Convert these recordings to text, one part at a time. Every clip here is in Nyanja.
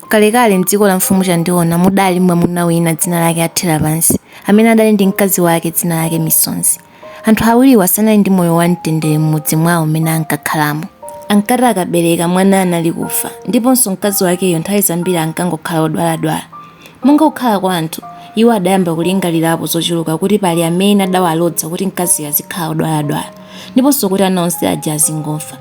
Kalekale, m'dziko la Mfumu Chandiona mudali mwamuna wina dzina lake Atherapansi, amene adali ndi mkazi wake dzina lake Misonzi. Anthu awiriwa sanali ndi moyo wamtendere m'mudzi mwawo m'mene ankakhalamo. Ankati akabereka, mwana anali kufa, ndiponso mkazi wakeyo nthawi zambiri ankangokhala wodwaladwala. Monga kukhala kwa anthu, iwo adayamba kulingalirapo zochuluka kuti pali amene adawalodza kuti mkaziyo azikhala wodwaladwala, ndiponso kuti ana onse aja azingofa.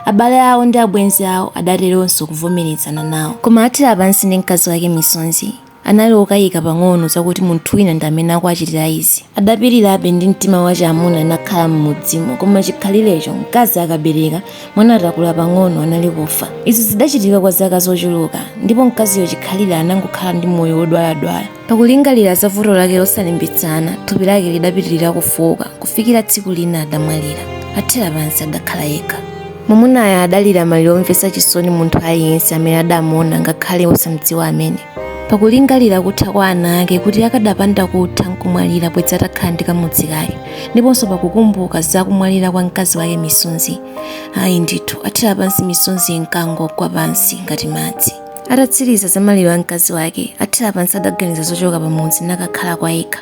Abale awo ndi abwenzi awo adateronso kuvomerezana nawo. Koma Athera pansi ndi mkazi wake Misonzi anali okayika pang'ono zakuti munthu wina ndi amene akuwachitira izi. Adapirirabe ndi mtima wachamuna nakhala m'mudzimo, koma chikhalirecho, mkazi akabereka, mwana atakula pang'ono anali kufa. Izi zidachitika kwa zaka zochuluka, ndipo mkaziyo chikhalire anangokhala ndi moyo wodwaladwala. Pakulingalira za vuto lake losalimbitsana, thupi lake lidapitirira kufooka kufikira tsiku lina adamwalira. Athera pansi adakhala yekha. Mwamunayo adalira maliro omvetsa chisoni munthu aliyense amene adamuona ngakhale osamdziwa amene. Pakulingalira kutha kwa ana ake kuti akadapanda kutha nkumwalira bwedzi atakhala ndi kamudzi kake, ndiponso pakukumbuka za kumwalira kwa mkazi wake Misonzi, ayi ndithu, athera pansi misonzi inkangogwa pansi ngati madzi. atatsiriza za maliro a mkazi wake athera pansi adaganiza zochoka pamudzi nakakhala kwa yekha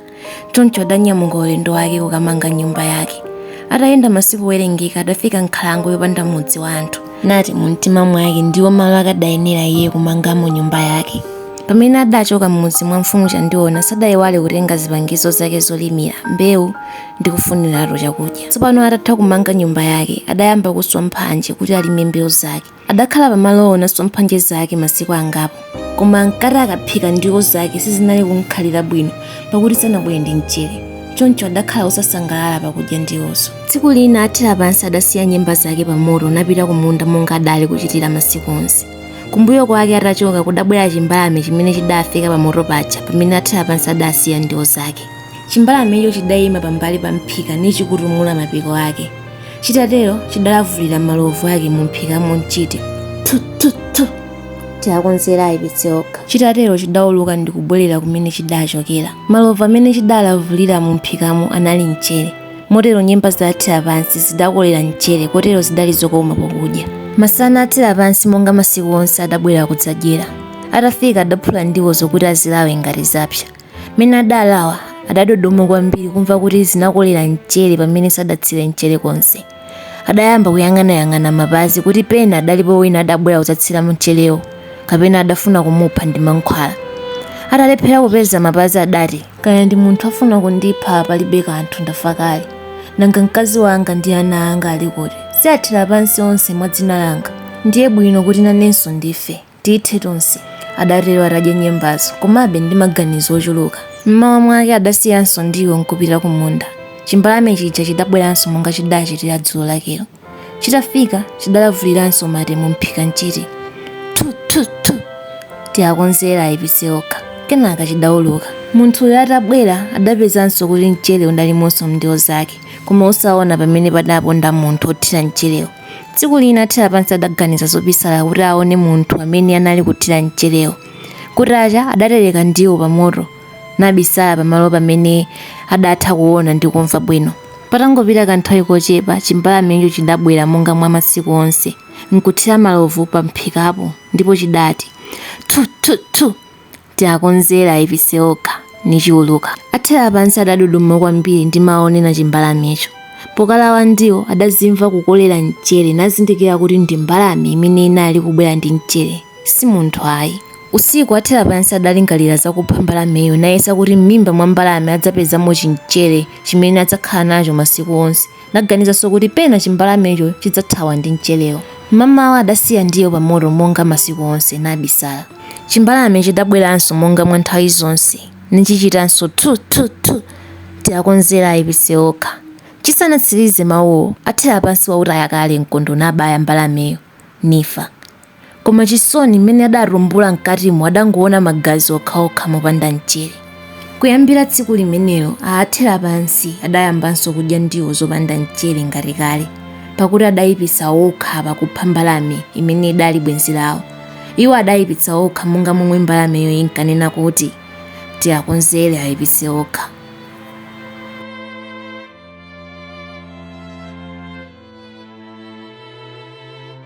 choncho adanyamuka ulendo wake kukamanga nyumba yake atayenda masiku owerengeka adafika m'nkhalango yopanda mudzi wa anthu nati mu mtima mwake ndiwo malo akadayenera iye kumangamo nyumba yake pamene adachoka m'mudzi mwa mfumu chandiona sadayiwale kutenga zipangizo zake zolimira mbewu ndi kufuniratu chakudya tsopano atatha kumanga nyumba yake adayamba kuswa mphanje kuti alime mbewu zake Adakhala pamalowo naswa mphanje zake masiku angapo, koma ankati akaphika ndiwo zake sizinali kumkhalira bwino, pakuti sanabwere ndi mchere. Choncho adakhala wosasangalala pakudya ndiwozo. Tsiku lina athera pansi adasiya nyemba zake pa moto napita ku munda monga adali kuchitira masiku onse. Kumbuyo kwake atachoka kudabwera chimbalame chimene chidafika pamoto paja pamene athera pansi adasiya ndiwo zake. Chimbalamecho chidaima pambali pa mphika nichikutumula mapiko ake. Chitatero, chidalavulira malovu ake mumphikamo nchiti, Thu! Thu! Thu! Tiwakonzere aipitse okha. Chitatero chidauluka ndi kubwerera kumene chidachokera. Malovu amene chidalavulira mumphikamo anali mchere. Motero nyemba za Atherapansi zidakolera mchere kotero zidali zokoma pokudya. Masana Atherapansi monga masiku onse adabwera kudzadyera. Atafika adaphula ndiwozo kuti azilawe ngati zapsa. Mmene adalawa, adadodoma kwambiri kumva kuti zinakolera mchere pamene sadatsire mchere konse. Adayamba kuyang'anayang'ana mapazi kuti pena adalipo wina adabwera kudzatsira mcherewo kapena adafuna kumupha ndi mankhwala. Atalephera kupeza mapazi adati, Kaya ndi munthu afuna kundipha palibe kanthu ndafa kale. Nanga mkazi wanga ndi ana anga ali kuti? Si athera pansi onse mwa dzina langa? Ndiye bwino kuti nanenso ndife. Tithe tonse, adatero atadya nyembazo, komabe ndi maganizo ochuluka. M'mawa mwake adasiyanso ndiwo n'kupita kumunda. Chimbalame chija chidabweranso monga chidaachitira dzulo lakelo. Chitafika, chidalavuliranso mate mumphika n'chiti. Thu! thu! thu! Tiakonzera aipitse okha. Kenaka chidauluka. Munthuyo atabwera, adapezanso kuti mchere udalimonso m'ndiwo zake, koma osaona pamene padaponda munthu wothira mcherewo. Tsiku lina Athera pansi adaganiza zobisala kuti aone munthu amene anali kuthira mcherewo. Kutacha, adatereka ndiwo pamoto, nabisala pamalo pamene adatha kuona ndi kumva bwino. Patangopita kanthawi kochepa, chimbalamecho chidabwera monga mwa masiku onse, nkuthira malovu pamphikapo, ndipo chidati, Thu, thu, thu! Tiakonzera aipitse okha, nichiuluka. Athera pansi adadodoma kwambiri ndi mawu onena chimbalamecho. Pokalawa ndiwo, adazimva kukolera mchere nazindikira kuti ndi mbalame imene inali kubwera ndi mchere, si munthu ayi. Usiku Athera pansi adalingalira za kupha mbalameyo nayesa kuti m'mimba mwa mbalame adzapezamo chimchere chimene adzakhala nacho masiku onse. Naganizanso kuti pena chimbalamecho chidzathawa ndi mcherewo. Mamawa adasiya ndiwo pamoto monga masiku onse, nabisala. Chimbalame chidabweranso monga mwa nthawi zonse, nichichitanso thu! thu! thu! Tiakonzera aipitse okha. Chisanatsirize mawuwo, Athera pansi wautaya kale mkondo nabaya mbalameyo, nifa. Koma chisoni, m'mene adatumbula m'katimo adangoona magazi okhaokha mopanda mchere. Kuyambira tsiku limenelo Athera pansi adayambanso kudya ndiwo zopanda mchere ngati kale, pakuti adayipitsa okha pakupha mbalame imene idali bwenzi lawo. Iwo adayipitsa okha monga momwe mbalameyo inkanena kuti, Tiakonzere ayipitse okha.